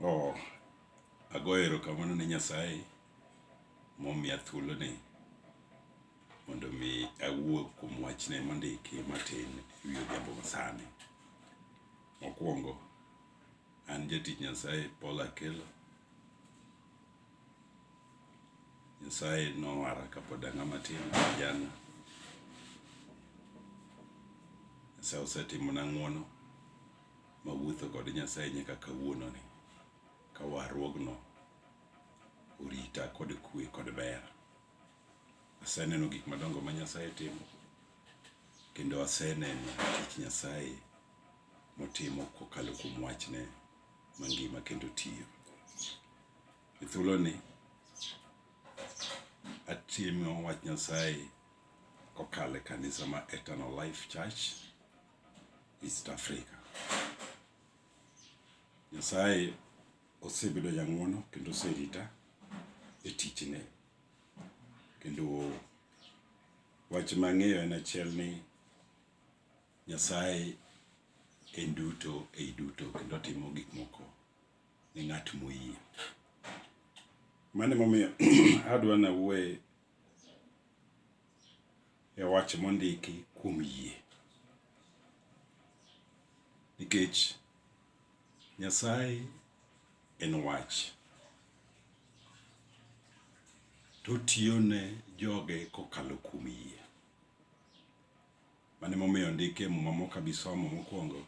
Oh, agoyo erokamano ne Nyasaye momiya thuoloni mondo mi awuo kuom wachne mondiki matin e wi odhiambo masani. Mokwongo, an jatich Nyasaye Paul Akelo. Nyasaye nowara kapod ang'a matin kijana. Nyasaye osetimona ng'wono ma wuotho kod Nyasaye nyaka kawuononi, ka warruogno orita kod kwe kod ber. Aseneno gik madongo ma Nyasaye timo, kendo aseneno tich Nyasaye motimo kokalo kuom wachne mangima kendo tiyo. E thuoloni, atimo wach Nyasaye kokalo e kanisa ma Eternal Life Church East Africa. Nyasaye osebedo jang'wono kendo oserita e tichne. Kendo wach mang'eyo en achiel ni Nyasaye en duto ei duto kendo otimo gik moko ne ng'at moyie. Mano emomiyo adwa nawuoye e wach mondiki kuom yie. Nikech Nyasaye en wach. To otiyo ne joge kokalo kuom yie. Mane momiyo ndike e muma mok abisomo mokwongo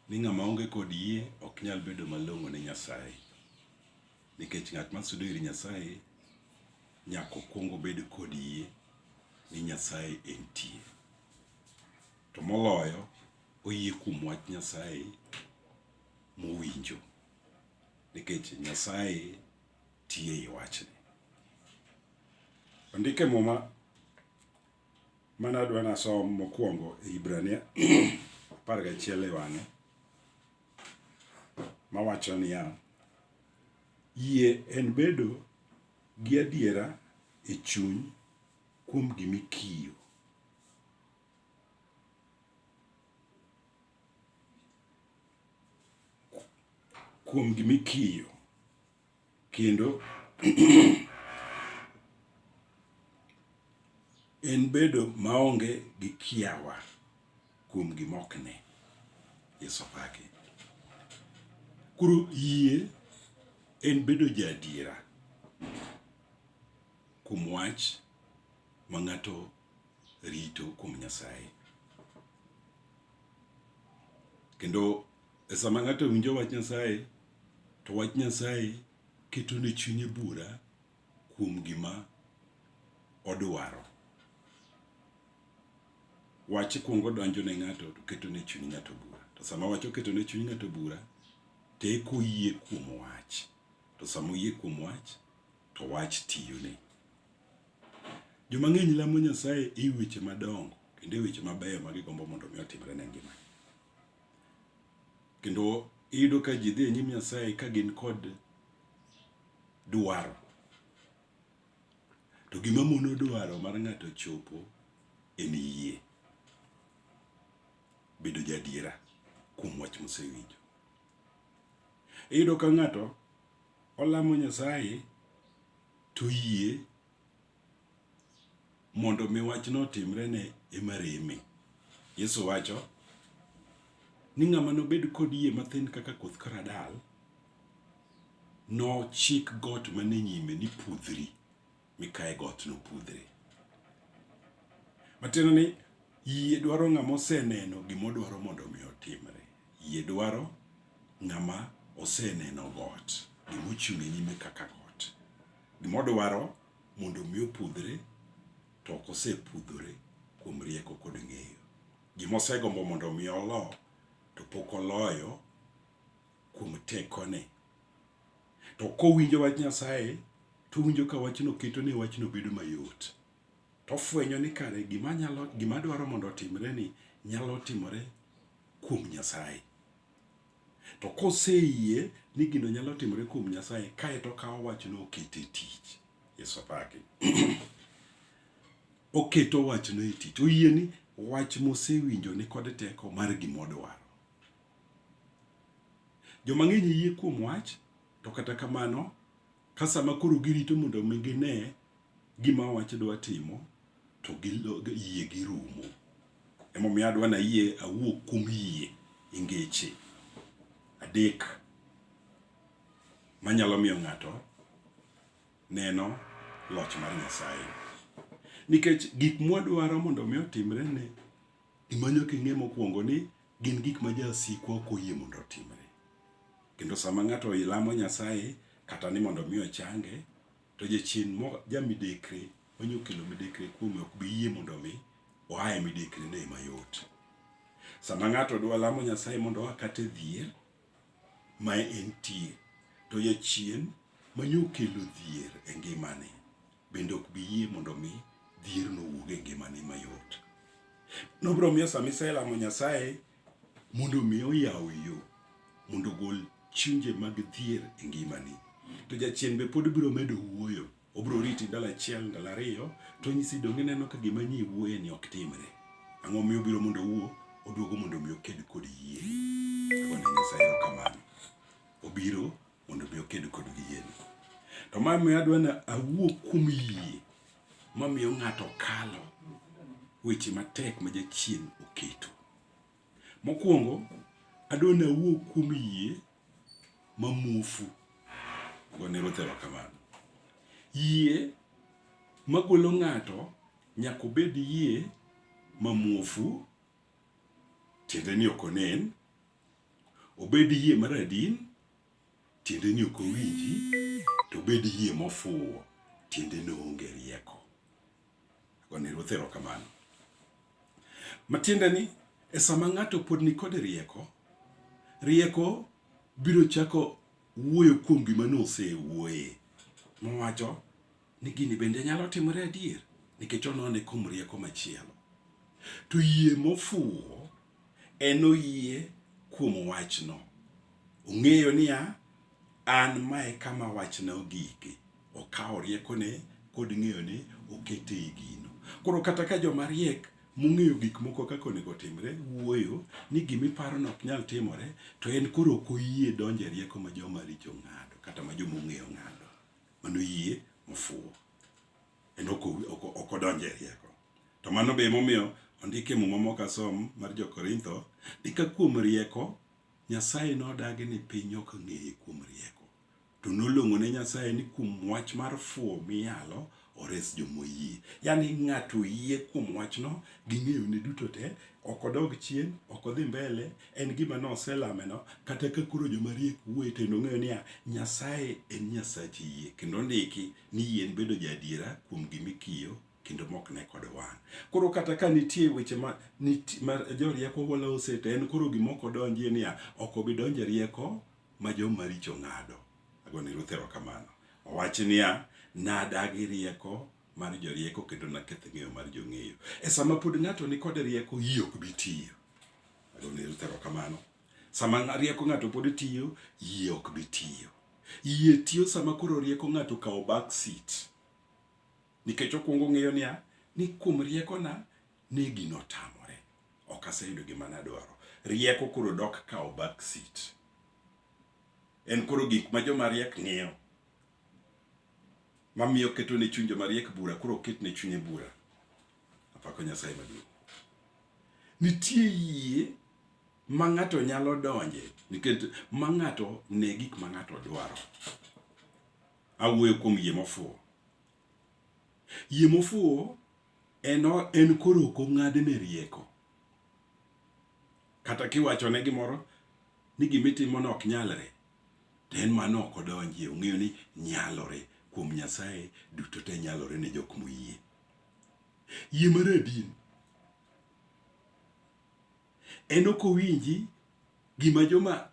ni ng'ama onge kod yie ok nyal bedo malong'o ne Nyasaye. Nikech ng'at ma sudo ir Nyasaye nyaka okuong obed kod yie ni Nyasaye entie. To moloyo oyie kuom wach Nyasaye mowinjo nikech Nyasaye tie i wachne. Ondike muma mane adwa nasom mokwongo e Hibrania apar gachiel e wang'e mawacho niya, yie en bedo gi adiera e chuny kuom gima ikiyo. Kuom gima ikiyo. Kendo en bedo maonge gi kiawa kuom gima ok ne. Yesu pake. Koro yie en bedo jaadiera kuom wach ma ng'ato rito kuom Nyasaye. Kendo E sama ng'ato winjo wach Nyasaye, to wach Nyasaye keto ne chunye bura kuom gima odwaro. Wach kwongo donjo ne ng'ato to keto ne chuny ng'ato bura. To sama wach oketo ne chuny ng'ato bura, to eka oyie kuom wach. To sama oyie kuom wach, to wach tiyone. Joma ng'eny lamo Nyasaye e weche madongo kendo e weche mabeyo ma gigombo mondo mi otimre ne ngimagi. Kendo iyudo ka ji dhi e nyim Nyasaye ka gin kod dwaro. To gima mono dwaro mar ng'ato chopo en yie. Bedo jadiera kuom wach mosewinjo. Iyudo ka ng'ato olamo Nyasaye to yie mondo mi wachno otimre ne ema reme. Yesu wacho ni ng'ama nobed kod yie mathin kaka koth karadal nochik got mane nyime ni pudhri mikae got nopudhre. Matiende ni yie dwaro ng'ama oseneno gima odwaro mondo mi otimre. Yie dwaro ng'ama oseneno got gima ochung' e nyime kaka got. Gima odwaro mondo mi opudhre to ok osepudhore kuom rieko kod ng'eyo. Gima osegombo mondo mi olo to pok oloyo kuom tekone. To kowinjo wach Nyasaye to owinjo ka wachno keto ne wachno bedo mayot. To ofwenyo ni kare gima nyalo gima dwaro mondo otimre ni nyalo timore kuom Nyasaye. To koseyie ni gino nyalo timore kuom Nyasaye, kae to okawo wachno okete tich. Yesu apaki. Oketo wachno e tich. Oyie ni wach mosewinjo ni kod teko mar gimodwaro. Joma ng'eny yie kuom wach, to kata kamano Ka sama koro girito mondo mi gine gima wach dwa timo to yie girumo. Emomiyo adwa na yie awuo kuom yie e ngeche adek manyalo miyo ng'ato neno loch mar Nyasaye. Nikech gik mwadwaro mondo mi otimre ne Gima nyaka ing'e mokwongo ni gin gik ma jasikwa ok oyie mondo otimre. Kendo sama ng'ato ilamo Nyasaye kata ni mondo mi ochange, to jachien mo jamidekre manyo kelo midekre kuome ok bi yie mondo mi oa e midekre ne mayot. Sama ng'ato dwa lamo Nyasaye mondo oa kata e dhier, ma entie, to Jachien ma ne okelo dhier e ngimane bende ok bi yie mondo mi dhierno owuog e ngimane mayot. Nobiro miyo sama iselamo Nyasaye mondo mi oyaw yo mondo ogol chunje mag dhier e ngimani, to Jachien be pod biro medo wuoyo Obro riti ndalo achiel, ndalo ariyo, to onyisi donge ineno ka gima ni iwuoye ni ok timre. Ang'o miyo obiro mondo owuo? Oduogo mondo mi oked kod yie. Agone Nyasaye kamano. Obiro mondo mi oked kod yie. To ma miyo adwa na awuo kuom yie ma miyo ng'ato kalo weche matek ma jachien oketo. Mokwongo, adwa na awuo kuom yie mamuofu gone Ruoth erokamano. Yie magolo ng'ato nyaka obed yie mamuofu, tiende ni ok onen, obed yie maradin, tiende ni ok owinji, to obed yie mofuwo, tiende ni oonge rieko. Gone Ruoth erokamano. Matiende ni e sama ng'ato pod nikod rieko, rieko biro chako wuoyo kuom gima nosewuoye mowacho ni gini bende nyalo timore adier nikech onone kuom rieko machielo. To yie mofuwo en oyie kuom wachno. Ong'eyo niya, an mae kama wachna ogike. Okawo riekone kod ng'eyone okete e gino. Koro kata ka joma riek mong'eyo gik moko kaka onego otimre wuoyo ni gima iparono ok nyal timore, to en koro ok oyie donjo e rieko ma joma richo ng'ado kata ma joma ong'eyo ng'ado. Mano yie mofuwo. En ok odonjo e rieko. To mano be emomiyo ondik e muma mok asom mar Jo-Korintho ni ka kuom rieko Nyasaye nodagi ni piny ok ng'eye kuom rieko. to nolong'o ne Nyasaye ni kuom wach mar fuwo miyalo ores jomoyie. Yani ng'ato oyie kuom wachno gi ng'eyone duto te, ok odog chien, ok odhi mbele, en gima noselameno, kata ka koro jomariek wuoye to nong'eyo niya, Nyasaye en Nyasach yie, kendo ondiki ni yie en bedo jaadiera kuom gima ikiyo kendo mok ne kod wang'. Koro kata ka nitie weche ma, ma jorieko wala oseta, en koro gima ok odonjie niya, ok obi donje rieko ma jo maricho ng'ado. Ago ne Ruth erokamano. Owachi niya, Nadagi rieko mar jorieko kendo naketh ng'eyo mar jong'eyo. E sama pod ng'ato ni kod rieko, yie ok bi tiyo. Ago ne Ruth erokamano. Sama rieko ng'ato pod tiyo, yie ok bi tiyo. Yie tiyo sama koro rieko ng'ato kawo back seat. Nikech okwongo ng'eyo niya, ni kuom riekona, ne gino otamore. ok aseyudo gima nadwaro. Rieko koro dok kawo back seat. En koro gik ma joma riek ng'iyo mamiyo keto ne chuny joma riek bura koro oket ne chunye bura. Apako Nyasaye maduong'. Nitie yie ma ng'ato nyalo donje nikech ma ng'ato ne gik ma ng'ato dwaro. Awuoyo kuom yie mofuwo. Yie mofuwo en, en koro ok ong'adne rieko. Kata kiwachone gimoro ni gima itimono ok nyalre, to en mano ok odonjie. Ong'eyo ni nyalore kuom Nyasaye, duto te nyalore ne jok moyie. Yie mar adien En ok owinji gima joma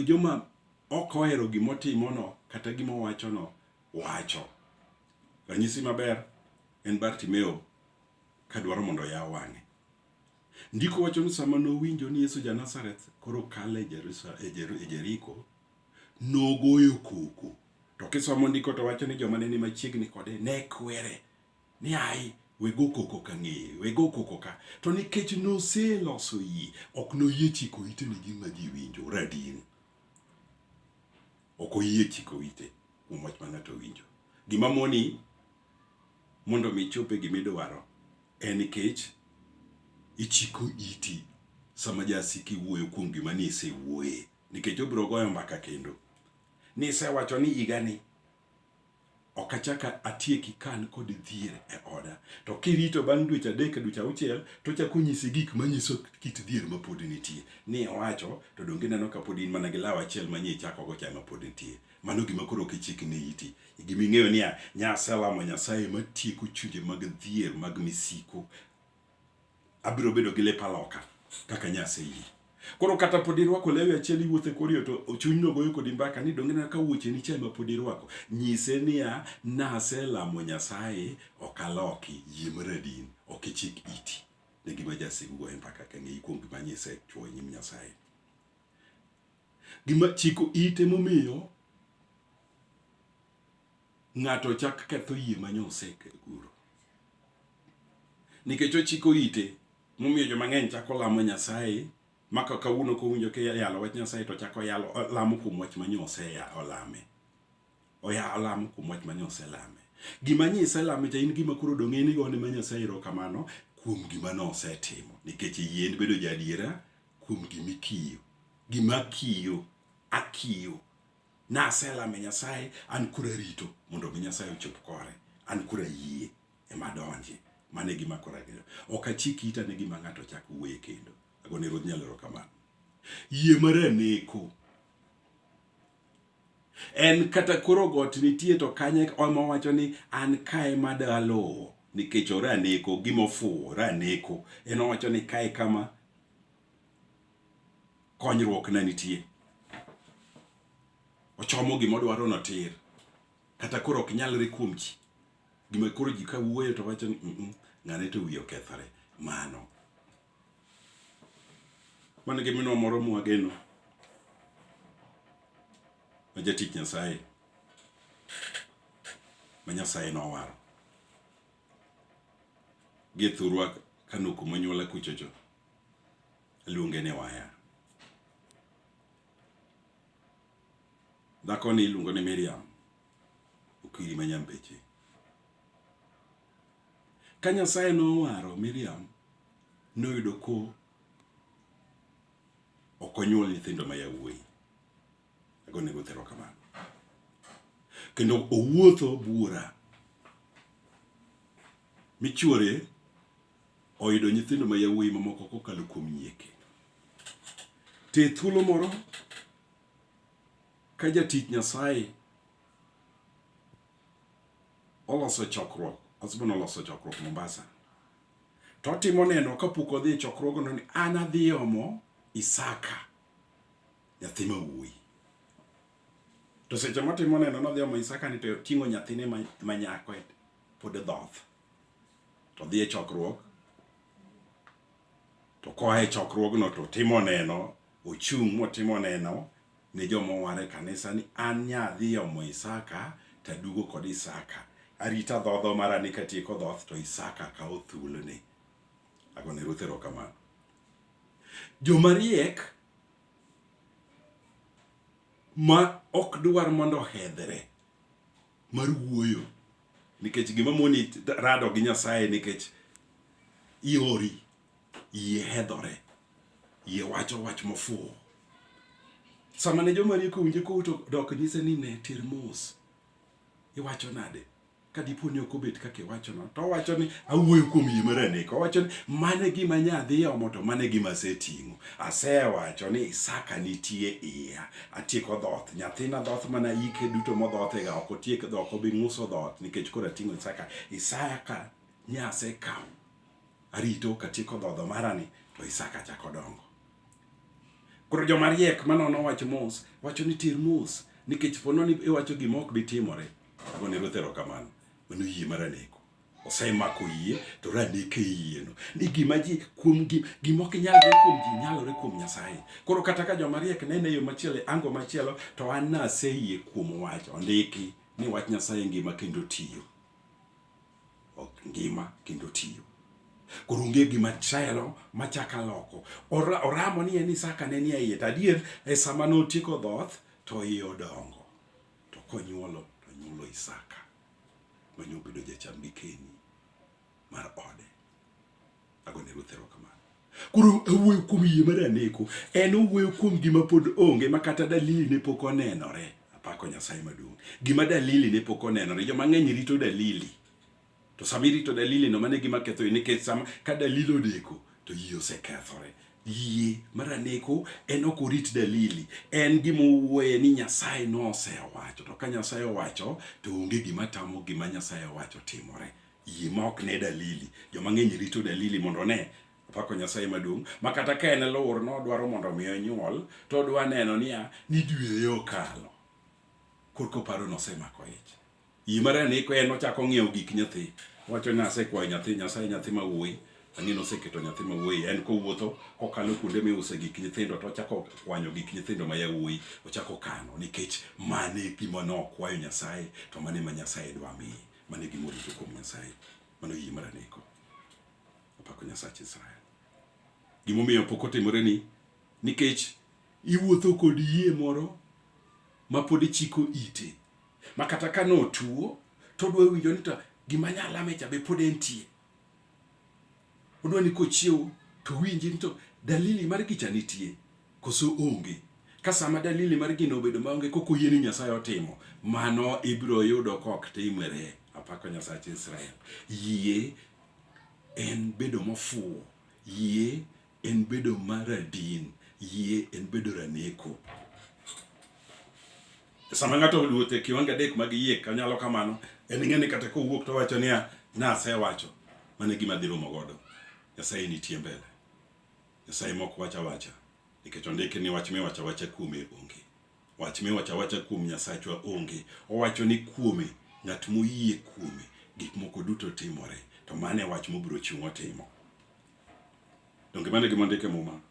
joma ok ohero gima otimono kata gima owachono wacho. Ranyisi maber en Bartimeo ka dwaro mondo oyaw wang'e. Ndiko wacho ni sama nowinjo ni Yesu ja-Nazareth koro kalo e Jeriko, nogoyo koko. To kisomo ndiko to wacho ni joma ne ni machiegni kode ne kwere ni ai wego koko ka ng'eye wego koko ka to nikech noseloso yie ok noyie chiko ite ne gima ji winjo radin ok oyie chiko ite kuom wach ma ng'ato winjo gima moni mondo mi chope gima idwaro en nikech ichiko iti sama jasiki wuoyo kuom gima ni isewuoye nikech obiro goyo mbaka kendo ni isewacho ni higani ok achak atieki ka an kod dhier e oda. To kirito bang' dweche adek, dweche auchiel, to ochako nyisi gik manyiso kit dhier ma pod nitie. Ni iwacho, to donge ineno ka pod in mana gi law achiel ma nye ichakogo cha ema pod nitie. Mano gima koro ok ichikne iti. Gima ing'eyo niya, nyaselamo Nyasaye ma tieko chunje mag dhier, mag misiku. abiro bedo gi lepa loka kaka nyase yi koro kata pod irwako lewi achiel iwuothe koriyo to chuny no goyo kodi mbaka ni donge na ka wuoche ni chai ma pod irwako nyise niya nase lamo nyasaye okaloki yie maradin ok ichik iti ne gima jasigu goyo mbaka ka ng'eyi kuom gima nyise chuo nyim nyasaye gima chiko ite momiyo ng'ato chak ketho yie ma nyosekeguro nikech ochiko ite momiyo joma ng'eny chako lamo Nyasaye maka kawuono kowinjo kiyalo wach Nyasaye to chako yalo lamo kuom wach ma nyose olame oya olamo kuom wach ma nyose lame gima nyise lame cha in gima koro dong' en igone ma Nyasaye ro kamano kuom gima nosetimo nikech yien bedo jadiera kuom gima ikiyo gima kiyo akiyo Naselame Nyasaye, an koro arito mondo mi Nyasaye ochop kore. An koro ayie ema donje. Mane gima koro ageno. Ok achik ita ne gima ng'ato chak wuoye kendo. Agone Ruodh Nyalo erokamano. Yie mar aneko. En kata koro got nitie to kanye ema wacho ni an kae ma daluwo nikech ora aneko gima ofuwo ora aneko. En owacho ni kae kama konyruok ne nitie. Ochomo gima odwaro no tir. Kata koro ok nyalre kuom ji. Gima koro ji ka wuoyo to wacho ni mm, mm, ng'ane to wiye okethore. Mano. Mano gi minwa moro mwageno. Ma jatich Nyasaye. Ma Nyasaye nowaro. Gi thurwa kanoku manyuola kuchocho. Aluonge ni Waya. Dhakoni iluongo ni Miriam Okiri ma Nyambeche. Ka Nyasaye nowaro Miriam, noyudo ko ok onyuol nyithindo ma yawuoyi. Ago nego thero kamano. Kendo owuotho buora michuore oyudo nyithindo ma yawuoyi mamoko kokalo kuom nyieke. Te thuolo moro ka jatich Nyasaye oloso chokruok, husband oloso chokruok Mombasa, to otimo neno kapok odhi e chokruogno ni an adhi omo Isaka nyathi ma wuoyi. To seche motimo neno nodhi omo Isaka ni to ting'o nyathine ma nyako pod dhoth. to dhi e chokruok to koa e chokruogno to timo neno ochung' motimo neno ne joma owar e kanisa ni an nyadhi omo Isaka to aduogo kod Isaka arita dhodho mara ni katieko dhoth to Isaka kawo thuolone agone Ruth erokamano joma riek ma ok dwar mondo ohedhre mar wuoyo nikech gima moni rado gi Nyasaye nikech iori iye hedhore iye wacho wach mofuwo sama ne joma rieko winje ko to dok nyise ni ne tir mos iwacho nade ka dipo ni ok obet kaka iwachono to owacho ni awuoyo kuom yie mar aneko owacho ni mane gima nyadhi omo to mane gima aseting'o asewacho ni Isaka nitie iya atieko dhoth nyathina dhoth mana yike duto modhothega ok otiek dhok obi ng'uso dhoth nikech koro ating'o isaka isaya ka nyase kaw arito katieko dhodho marani to isaka chako dongo koro joma riek manono wach mos wacho ni tir mos nikech pono ni iwacho gima ok bitimore agone ruoth erokamano mano yie maraneko osemako yie to radeke yieno ni gima ji kuom gima ok nyalre kuom ji nyalore kuom Nyasaye. Koro kata ka joma riek nene yo machielo e ango machielo to an naseyie kuom wach ondiki ni wach Nyasaye ngima kendo tiyo. Ok ngima kendo tiyo. Koro onge gima chelo machaka loko. Oramo ni en Isaka ne nie iye to adier e sama notieko dhoth to iye odongo to konyuolo to nyuolo Isaka. manyo bedo jacham gikeni mar ode. Agone Ruoth erokamano. Koro awuoyo kuom yie mar aneko, en owuoyo kuom gima pod onge ma kata dalili ne pok onenore. Apako Nyasaye maduong'. Gima dalili ne pok onenore, joma ng'eny rito dalili. To sama irito dalili no mane gima ketho nikech sama ka dalili odeko to yie osekethore. Yie mar aneko en ok orit dalili, en gima owuoye ni Nyasaye nosewacho, to ka Nyasaye owacho to onge gima tamo gima Nyasaye owacho timore. Yie ma ok ne dalili, joma ng'eny rito dalili mondo one pako Nyasaye maduong' ma kata ka en lor no dwaro mondo mi onyuol to odwa neno niya ni dwe okalo korka oparo nosemako ich. Yie mar ariyo ni ko en ochako ng'iewo gik nyathi. Owacho ni asekwayo nyathi Nyasaye nyathi ma wuoyi. Ang'e ni oseketo nyathi ma wuoyi. En kowuotho kokalo kuonde miuse gik nyithindo to ochako kwanyo gik nyithindo ma yawuoyi. Ochako kano nikech mano e gima nokwayo Nyasaye to mano ema Nyasaye dwa miye. Mano e gima orito kuom Nyasaye. Mano yie mar aneko. Opako Nyasach Israel. Gimomiyo pok otimore ni nikech iwuotho kod yie moro ma pod ichiko ite. ma kata ka notuo to odwa winjo ni to gima nyalame cha be pod entie. Odwa ni kochiewo to winji ni to dalili mar gicha nitie koso onge. Ka sama dalili mar gino obedo maonge kok oyie ni Nyasaye otimo, mano ibiro yudo kok timore. Apako Nyasach Israel. Yie en bedo mofuwo. Yie En bedo ma radin. Yie en bedo raneko. Sama ng'ato oluot e kiwango adek mag yie kanyalo kamano, en ng'e ni kata kowuok to wacho niya, nasewacho, mano e gima dhi rumo godo. Nyasaye nitie mbele. Nyasaye mok wacha wacha. Nikech ondiki ni wach miwacho awacha kuome onge. Wach miwacho awacha kuom Nyasachwa onge. Owacho ni kuome, ng'at moyie kuome, gik moko duto timore. To mano e wach mobiro chung' otimo. Donge mano e gima ondik e Muma?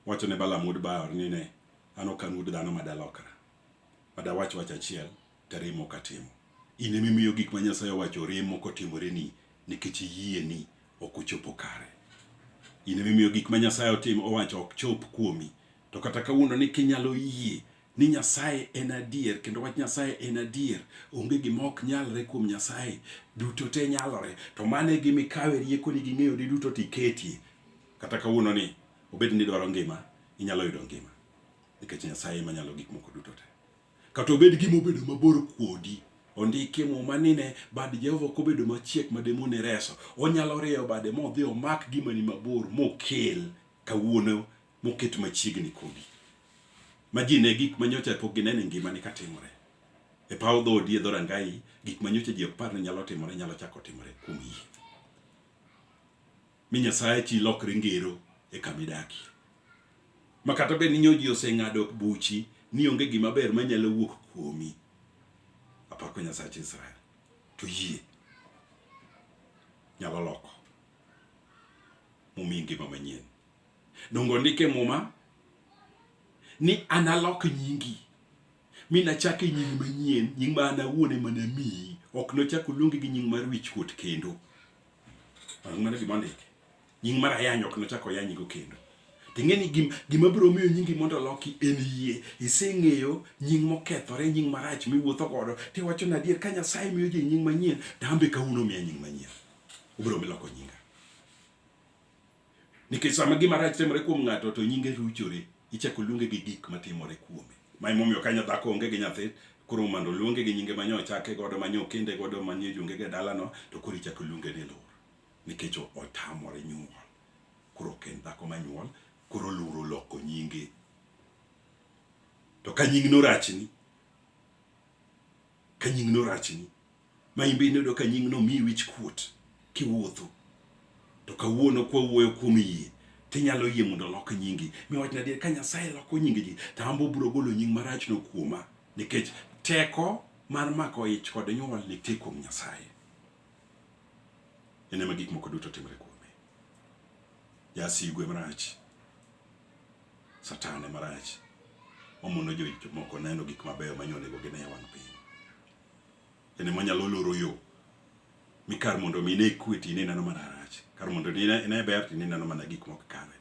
Wacho ne Balaam wuod Beor ni ne, An ok an wuod dhano ma dalokra, ma dawach wach achiel to arem ok atimo. In ema imiyo gik ma Nyasaye owacho rem ok otimoreni nikech yieni ok ochopo kare. In ema imiyo gik ma Nyasaye owacho ok chop kuomi. To kata kawuondoni kinyalo yie ni Nyasaye en adier kendo wach Nyasaye en adier, onge gima ok nyalre kuom Nyasaye, duto te nyalore. To mano e gima ikawe riekoni gi ng'eyoni duto to iketie. Kata kawuono ni obed ni idwaro ngima, inyalo yudo ngima nikech Nyasaye ema nyalo gik moko duto te. Kata obed gima obedo mabor kuodi, ondiki e muma ni ne bad Jehova ok obedo machiek ma demone reso. Onyalo rieyo bade modhi omak gima ni mabor mokel kawuono moket machiegni kodi ma ji ne gik ma nyocha pok gineno e ngimani ka timore e paw dhoodi e dhorangayi gik ma nyocha ji ok par ni nyalo timore nyalo chako timore kuom yie mi nyasaye chi lokre ngero e kama idakie ma kata bed ni nyo ji oseng'ado buchi ni onge gima ber ma nyalo wuok kuomi apako nyasach israel to yie nyalo loko mumi ngima manyien Donge ondike Muma ni analok nyingi mi nachak e nying manyien, nying ma an awuon ema namiyi, ok nochak oluongi gi nying mar wichkuot kendo. Mano gima ondike. Nying mar ayany ok nochak oyanyigo kendo. Ting'e ni gim, gima biro miyo nyingi mondo oloki en yie. Iseng'eyo nying mokethore, nying marach miwuotho godo. Tiwacho na adier ka Nyasaye miyo ji nying manyien, tambe kawuono miya nying manyien. Ubiro miloko nyinga. Nikech sama gima rach timore kuom ng'ato to nyinge ruchore, ichako luonge gi gik matimore kuome. Ma emomiyo ka nyadhako onge gi nyathi, koro mondo oluonge gi nyinge manyo ochake godo, manyo okende godo, manie jonge e dalano, to koro ichako luonge ni lur. Nikech otamore nyuol. Koro ok en dhako manyuol, koro lur oloko nyinge. To ka nying norachni, ka nying no rachni ma in be ineno ka nying no miyi wich kuot kiwuotho to kawuono kwa wuoyo kuom yie tinyalo yie mondo olok nyingi mi wachna adier ka nyasaye loko nying ji to ambo biro golo nying marach no kuoma nikech teko mar mako ich kod nyuol nitie kuom nyasaye en ema gik moko duto timre kuome. Jasigu e marach, Satan e marach, omono jomoko neno gik mabeyo manyonego gine e wang' piny. En ema nyalo loro yo mi kar mondo mi ne kwe to ineno mana rach, kar mondo ine ber to ineno mana gik mok kare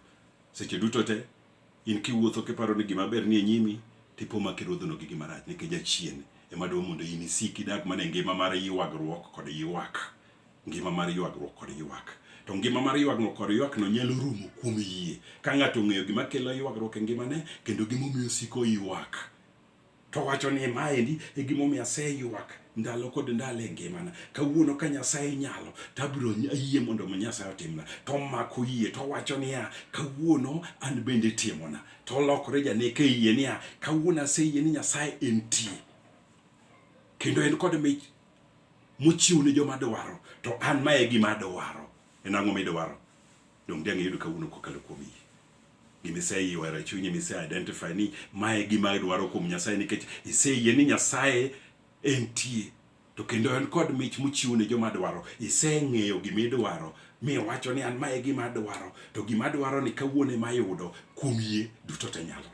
seche duto te In kiwuotho kiparo ni gima ber nie nyimi, tipo ma kiruodhono gi gima rach nikech jachien ema dwa mondo in isik idak mana e ngima mar ywagruok kod ywak. Ngima mar ywagruok kod ywak. To ngima mar ywagruok kod ywakno nyalo rumo kuom yie ka ng'ato ong'eyo gima kelo ywagruok e ngimane kendo gimomiyo osiko oywak. to wacho ni maendi e gimomiyo aseywak ndalo kod ndalo e ngimana kawuono ka nyasaye nyalo to abiro ayie mondo mo nyasaye otimna to omako yie to owacho niya kawuono an bende timona to olokore janeke e yie niya kawuono aseyie ni nyasaye entie kendo en kod mich mochiw ne joma dwaro to an ma e gima adwaro en ang'o midwaro Donge dang' iyud kawuono kokalo kuom yie? Gima iseyie ohero e chunyi ma ise identify ni mae gima idwaro kuom Nyasaye nikech iseyie ni Nyasaye entie to kendo en kod mich mochiwo ne joma dwaro. Iseng'eyo gima idwaro mi iwacho ni an mae gima adwaro to gima adwaro ni kawuono ema ayudo kuom yie duto te nyalore.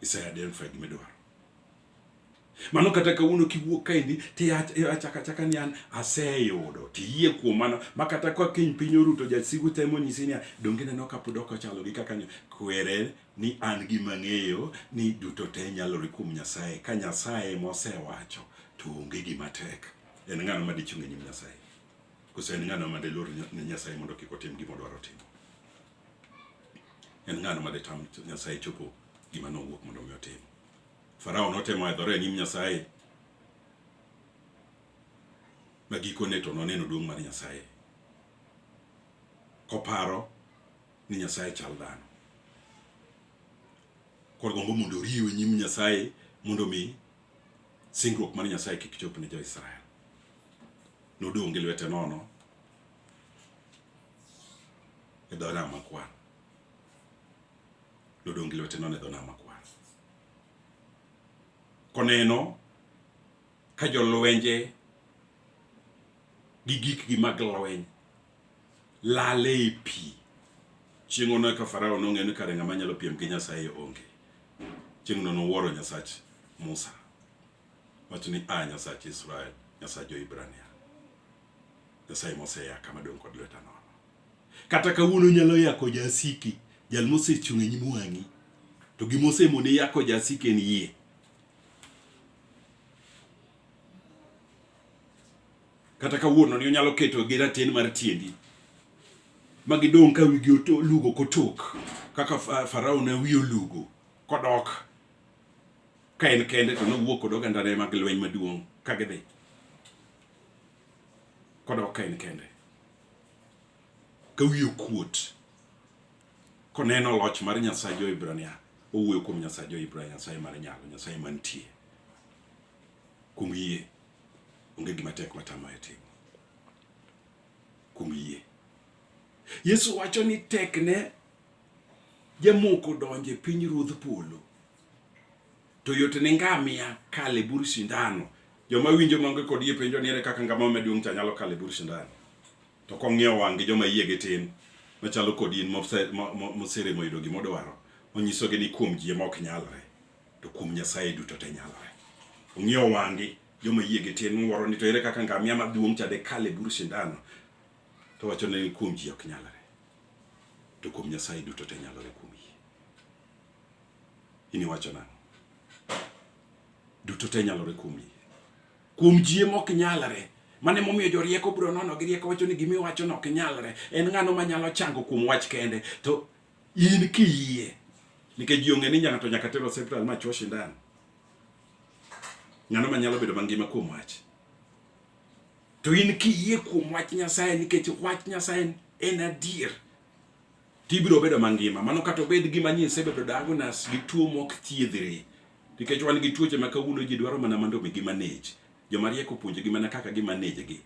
Ise identify gima idwaro. Mano kata kawuono kiwuok kaendi tiachaka chaka ni an aseyudo tiyie kuom mano ma kata ka kiny piny oruto jasigu temo nyisi niya donge neno kapod ok ochalo gi kaka kwere ni an gi mang'eyo ni duto te nyalore kuom Nyasaye ka Nyasaye mosewacho to onge gima tek en ng'ano ma dichung' e nyim Nyasaye koso en ng'ano ma dilor ne Nyasaye mondo kik otim gima odwaro timo en ng'ano ma ditam Nyasaye chopo gima nowuok mondo mi otim Farao notemo edhore e nyim Nyasaye, ma gikone to noneno duong' mar Nyasaye, koparo ni Nyasaye chal dhano. Koro gombo mondo oriwe nyim Nyasaye mondo mi singruok mar Nyasaye kik chop ne jo-Israel. Nodong' gi lwete nono e dho nam makwar. Nodong' gi lwete nono e dho nam makwar. koneno ka jolwenje gi gikgi mag lweny lale e pi chieng' ono eka farao nong'eyo ni kare ng'ama nyalo piem gi nyasaye onge chieng'no nowuoro nyasach musa wacho ni a nyasach israel nyasach jo-hibrania nyasaye moseya kama dong' kod lweta nono Kata kawuono onyalo yako jasiki, jal mosechung' e nyim wang'i. To gima osemoni yako jasiki en yie. Kata kawuono ni onyalo keto gi raten mar tiendi ma gidong' ka wigi olugo kotok kaka Farao ne wiye olugo kodok ka en kende to nowuok kod ogandane mag lweny maduong' ka gidhi kodok ka en kende. ka wiye okuot koneno loch mar Nyasaye Jo-Hibrania owuoyo kuom Nyasaye Jo-Hibrania, Nyasaye mar nyalo, Nyasaye mantie. Kuom yie onge gima tek matamaye timo. Kuom yie Yesu wacho ni tekne jamoko donje piny ruodh polo To yot ne ngamia kalo e bur sindano. Joma winjo maonge kod yie penjo ni ere kaka ngamia maduong' cha nyalo kalo e bur sindano. To kong'iyo wang'gi joma yiegi tin machalo kod in moseremo yudo gima odwaro, onyisogi ni kuom ji ema ok nyalre, to kuom Nyasaye duto te nyalre. Ong'iyo wang'gi joma yiegi tin mowuoro ni to ere kaka ngamia maduong' cha dekal e bur sindano, to wacho ni kuom ji ok nyalre, to kuom Nyasaye duto te nyalore kuom in iwacho nang'o? Duto te nyalore kuom yie. Kuom jie mok nyalre. Mane momiyo jorieko bro nono gi rieko wacho ni gimi wacho no ok nyalre. En ng'ano ma nyalo chango kuom wach kende to in kiyie. Nikech ji ong'e ni nyaka to nyaka tero hospital ma chwo sindan. Ng'ano ma nyalo bedo mangima kuom wach. To in kiyie kuom wach Nyasaye nikech wach Nyasaye en adier. tibiro bedo mangima. Mano kata obed gima nyi isebedo diagnosed gi tuo mok thiedhre, nikech wan gi tuoche ma kawuono ji dwaro mana mondo omi gimanage. Joma riek opuonjogi mana kaka gimanage gi.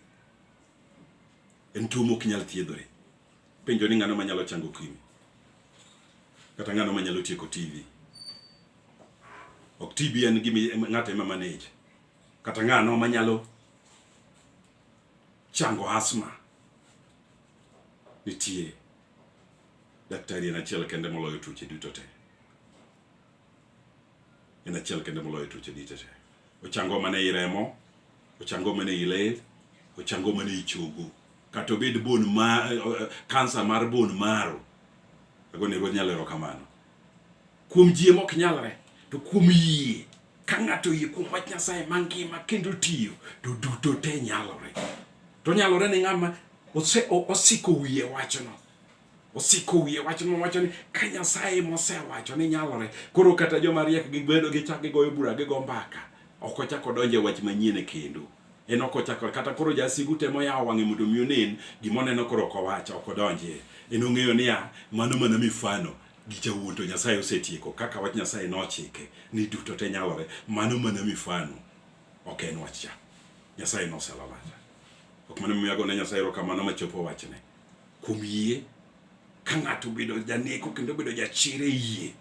En tuo mok nyal thiedhore. Penjo ni ng'ano manyalo chango kimi? Kata ng'ano manyalo tieko TV? Ok TB en gima ng'ato ema manage. Kata ng'ano manyalo chango asma? Nitie daktari en achiel kende moloyo tuoche duto te. En achiel kende moloyo tuoche duto te. Ochango mana i remo, ochango mana i ler, ochango mana i chogo. Kata obed bone ma kansa eh, eh, mar bone marrow. Ago ne ruoth nyalo erokamano. Kuom ji mok nyalre, to kuom yie ka ng'ato yie kuom wach Nyasaye mangima kendo tiyo, to duto te nyalore. To nyalore ni ng'ama osiko wiye wachno osiko wiye wach mowacho ni ka Nyasaye mosewacho ni nyalore, koro kata joma riek gi gwedo gi chak gigoyo bura gi go mbaka, ok ochak odonje wach manyien e kendo. En ok ochak kata koro jasigu temo yawo wang'e mondo mi onen gima oneno koro ok owacho ok odonje. En ong'eyo niya mano mana mifano gi jawuon to Nyasaye osetieko kaka wach Nyasaye nochike ni duto te nyalore mano mana mifano ok en wach cha Nyasaye noselalata ok mana miyago ne Nyasaye erokamano machopo wachne kuom yie ka ng'ato bedo janeko kendo bedo jachir e yie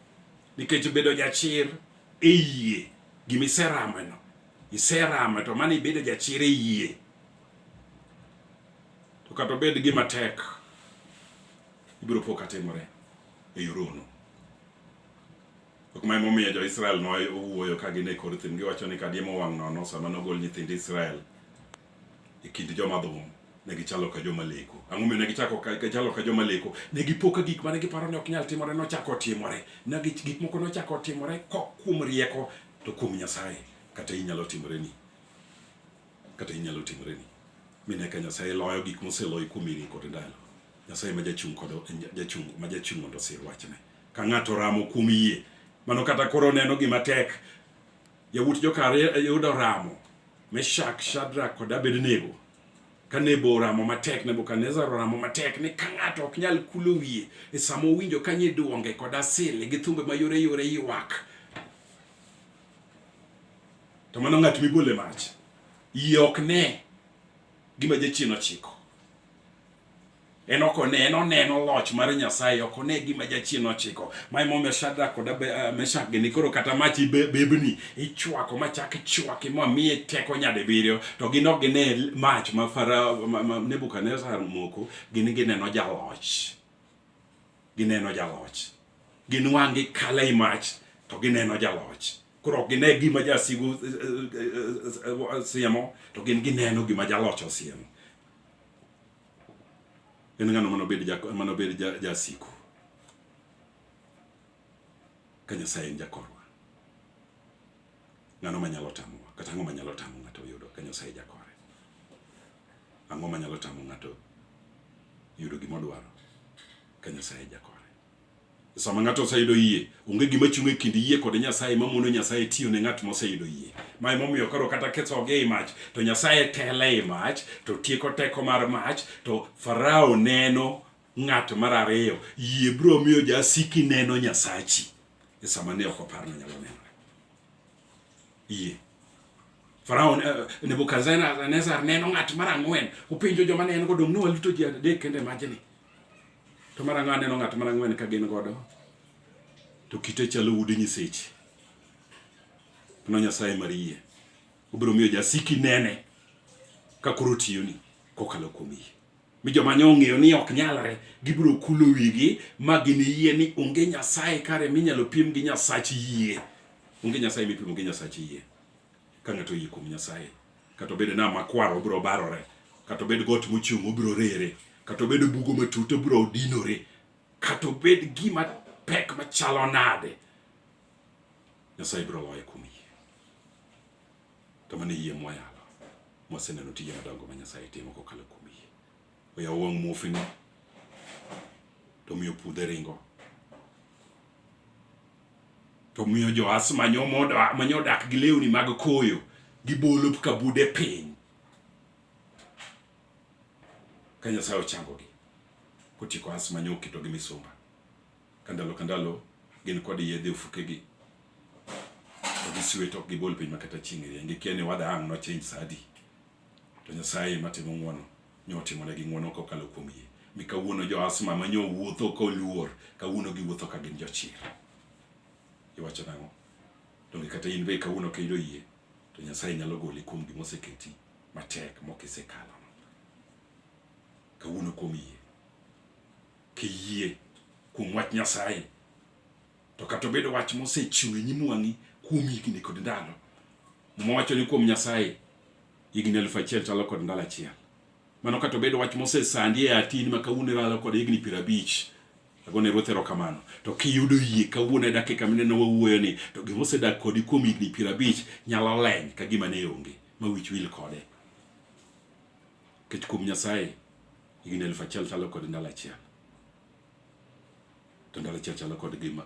nikech bedo jachir e yie gimiserameno iserama to mano ibedo jachir e yie to kata obed gima tek ibiro po katimore e yor hono. Ok ma emomiyo jo-Israel nowuoyo ka gin e kor thim giwacho ni kadiemo wang' nono sama nogol nyithind Israel e kind joma dhum ne gichalo ka joma leko. Ang'o momiyo ne gichako ka gichalo ka joma leko? Ne gipo ka gik mane giparo ni ok nyal timore nochako timore. Ne gik moko nochako timore kok kuom rieko to kuom Nyasaye kata inyalo timoreni. kata inyalo timoreni mi nyaka Nyasaye loyo gik moseloyi kuom higni kod ndalo. Nyasaye ma jachung' kod jachung' ma jachung' mondo osir wachne. Ka ng'ato ramo kuom yie, mano kata koro neno gima tek. Yawuot jokar yudo ramo, Meshak, Shadrak kod Abednego. Ka Nebo oramo matek, Nebukadnezar oramo matek ni ka ng'ato ok nyal kulo wiye e sama owinjo ka nyiduonge kod asili gi thumbe mayore yore ywak to mano ng'at mibole mach iye ok ne gima jachien ochiko en ok one en oneno loch mar nyasaye ok one gima jachien ochiko ma emomiyo shadrak kod eh, meshak gini koro kata mach bebni ichwako machak ichwaki ma miye teko nyadibiriyo to gin ok gine mach ma nebukadnezar moko gin gineno jaloch gineno jaloch gin wang'gi kala i mach to gineno jaloch koro ok gine gima jasigu siemo to gin gineno gima jaloch osiemo en ng'ano manobed jasiku ka nyasaye en jakorwa ng'ano manyalo tamowa kata ang'o manyalo tamo ng'ato yudo ka nyasaye jakore Ang'o manyalo tamo ng'ato yudo gima odwaro ka Nyasaye jakore? Sama ng'ato oseyudo yie, onge gima chung' e kind yie kod Nyasaye ma mono Nyasaye tiyo ne ng'at moseyudo yie. Ma emomiyo koro kata kethogi ei mach, to Nyasaye tele ei mach, to tieko teko mar mach, to Farao neno ng'at mar ariyo. Yie biro miyo jasiki neno Nyasachi e sama ne ok oparno nyalo neno. Yie. Farao eh, Nebukadnezar neno ng'at mar ang'wen, openjo joma ne en go, dong' ne waluto ji adek kende majni. To mar ang'wen neno ng'at mar ang'wen ka gin godo, to kite chalo ude nyiseche. Mano Nyasaye mar yie. Obiro miyo jasiki nene ka koro tiyoni kokalo kuom yie. mi joma nyo ong'eyo ni ok nyalre gibiro kulo wigi ma giniyie ni onge nyasaye kare minyalo pim gi nyasach yie onge nyasaye mipimo gi nyasach yie ka ng'ato oyie kuom nyasaye kata obedo na makwar obiro barore kata obed got mochung' obiro rere kata obed bugo matut obiro dinore kata obed gima pek machalo nade nyasaye biro loye kuom To mano e yie mwayalo, mwaseneno tije madongo ma Nyasaye timo kokalo kuom yie. Oyawo wang' muofini, to miyo pudhe ringo, to miyo joas manyo odak gi lewni mag koyo, gibolo kabude piny ka Nyasaye ochangogi kotieko as manyo oketogi misumba. Ka ndalo ka ndalo gin kod yedhe ofukegi to gisiwe to ok gibol piny makata chieng' rieny gikia ni wada ang' nochange sa adi to Nyasaye matimo ng'wono nyo otimonegi ng'wono kokalo kuom yie mi kawuono jo asma ma nyo wuotho koluor kawuono giwuotho ka gin jochir iwacho nang'o donge kata in be kawuono kendo yie to Nyasaye nyalo goli kuom gima oseketi matek mokisekalo kawuono kuom yie kiyie kuom wach Nyasaye. To kata obedo wach mosechiw e nyim wang'i kuom higni kod ndalo, Muma wacho ni kuom Nyasaye higni elfu achiel chalo kod ndalo achiel. Mano kata obedo wach mosesandi e atin ma kawuono iralo kod higni piero abich agone ruoth erokamano to kiyudo yie kawuono e dakika mineno wawuoyo ni to gima osedak kodi kuom higni piero abich nyalo leny ka gima ne onge ma wich wil kode kech kuom nyasaye Higni elfu achiel chalo kod ndalo achiel, to ndalo achiel chalo kod gima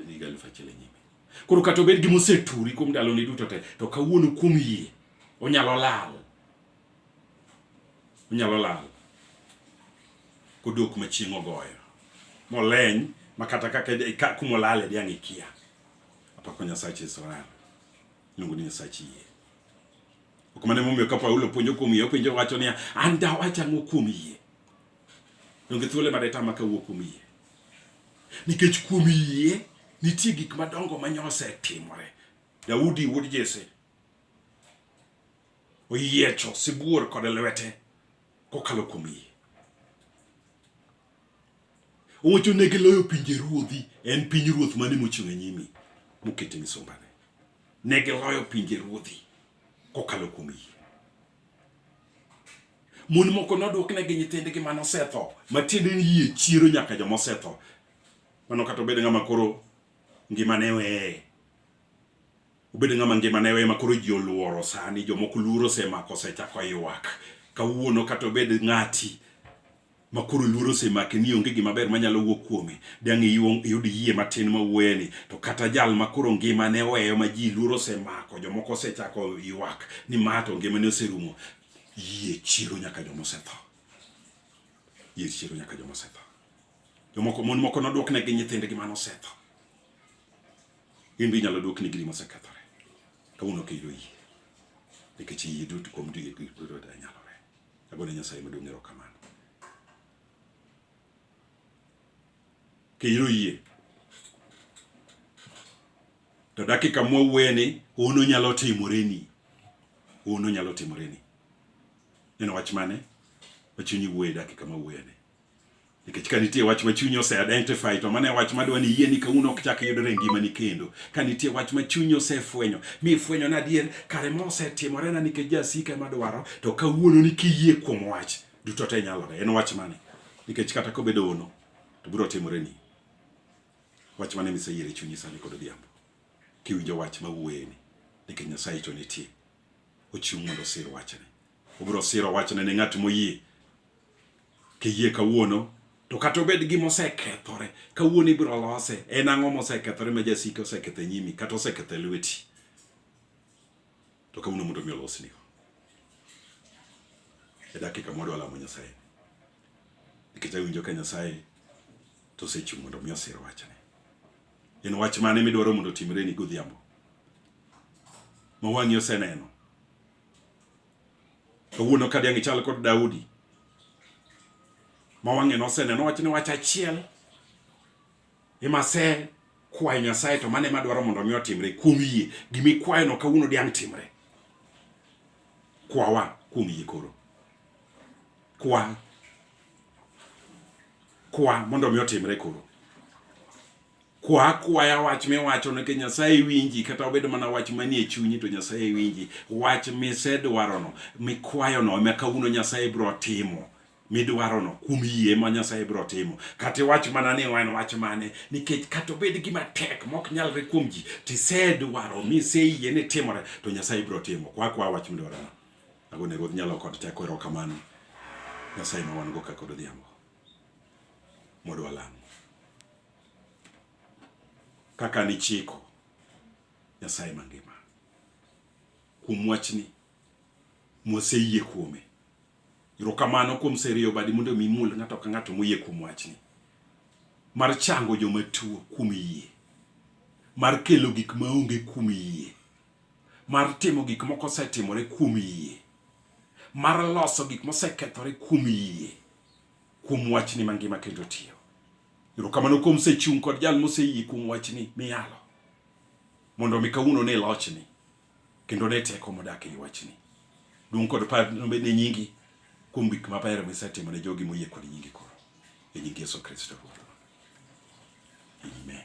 higa elfu achiel e nyime. Koro kata obed gima oseturi kuom ndaloni duto te, to kawuono kuom yie onyalo lal, onyalo lal kodok machieng' ogoyo moleny ma kata kaka kuma olale diang' ikia. Apako Nyasach Israel, iluongo ni Nyasach yie. Ok mane momiyo ka Paulo puonjo kuom yie, openjo wacho niya, an dawach ang'o kuom yie? Donge thuole made tama ka wuok kuom yie? Nikech kuom yie nitie gik madongo ma nyose timore. Daudi wuod Jesse oyiecho sibuor kod lwete kokalo kuom yie. Owacho ne giloyo pinje ruodhi, en piny ruoth mane mochung' e nyimi mokete misumbane. Ne giloyo pinje ruodhi kokalo kuom yie. Mon moko nodwoknegi nyithindgi mane osetho, matiende ni yie chiero nyaka joma osetho. Mano kata obedo ng'ama koro ngimane weye, obedo ng'ama ngimane weye makoro ji oluoro sani, jomoko luoro osemako osechako ywak. Kawuono kata obed ng'ati ma koro luoro osemake ni onge gima ber manyalo wuok kuome, dang' iwong iyud yie matin ma wuoyeni. To kata jal ma koro ngimane oweyo ma ji luoro osemako, jomoko osechako ywak ni ma to ngimane oserumo, yie chiero nyaka joma osetho. Yie chiero nyaka joma osetho. Jomoko mon moko nodwokne gi nyithindgi mane osetho. In be inyalo dwokni giri mosekethore. Kawuono kiyudo yie. Nikech yie duto kuom duto nyalore. Agone Nyasaye maduong' erokamano. Keyiro yie. To dakika mwawueni hono nyalo timoreni. Hono nyalo timoreni. En wach mane? Wachunyi wuoye dakika mawuoyeni. Nikech ka nitie wach ma chunyi ose identify to mano e wach madwa ni yie ni kawuono ok chak yudore e ngimani kendo. Ka nitie wach ma chunyi osefwenyo mi ifwenyo ni adier kare ma osetimorena nikech jasika ema dwaro to kawuono ni kiyie kuom wach duto te nyalore. En wach mane? Nikech kata kobedo ono to biro timore ni. Wach mane miseyiero e chunyi sani kod odhiambo? Kiwinjo wach ma wuoyeni nikech Nyasaye to nitie. Ochung' mondo osir wachne. Obiro siro wachne ne ng'at moyie Kiyie kawuono to kata obed gima osekethore kawuono ibiro lose. En ang'o mosekethore ma jasika oseketho e nyimi kata oseketho e lweti? To kawuono mondo mi olosni e dakika moro alamo Nyasaye nikech awinjo ka Nyasaye to osechung' mondo mi osir wachne. En wach mane midwaro mondo otimreni godhiambo ma wang'i oseneno Kawuono ka diang' ichal kod Daudi ma wang'e noseneno wach ni wach achiel ema se kwayo Nyasaye to mane madwaro mondo mi otimre kuom yie gimi kwayo no kawuono diang' timre kwawa kuom yie koro kwa kwa mondo mi otimre koro kwa akwaya wach miwacho nikech Nyasaye winji, kata obedo mana wach manie chunyi to Nyasaye winji. Wach misedwarono mikwayono ema kawuono Nyasaye biro timo midwarono kuom yie ma Nyasaye biro timo. Kata iwach mana ni en wach mane, nikech kata obed gima tek mok nyalre kuom ji, tisedwaro miseyie ni timore, to Nyasaye biro timo. Kwa kwa wach midwarono. Ago ne Ruoth nyalo kod teko erokamano. Nyasaye ma wan go kaka odhiambo. Mondo walam. kaka nichiko Nyasaye mangima kuom wachni mwaseyie kuome. Erokamano kuom serio badi mondo mi mul ng'ato ka ng'ato moyie kuom wachni mar chango joma tuo kuom yie, mar kelo gik maonge kuom yie, mar timo gik moko osetimore kuom yie, mar loso gik mosekethore kuom yie, kuom wachni mangima kendo tiyo. Erokamano kuom sechung' kod jal moseyie kuom wachni miyalo mondo omi kawuono ne lochni kendo ne teko modak ei wachni. Duong' kod par nobed ne nyingi kuom gik maber misetimo ne jogi moyie kod nyingi koro. E nying Yesu Kristo Ruodhwa. Amen.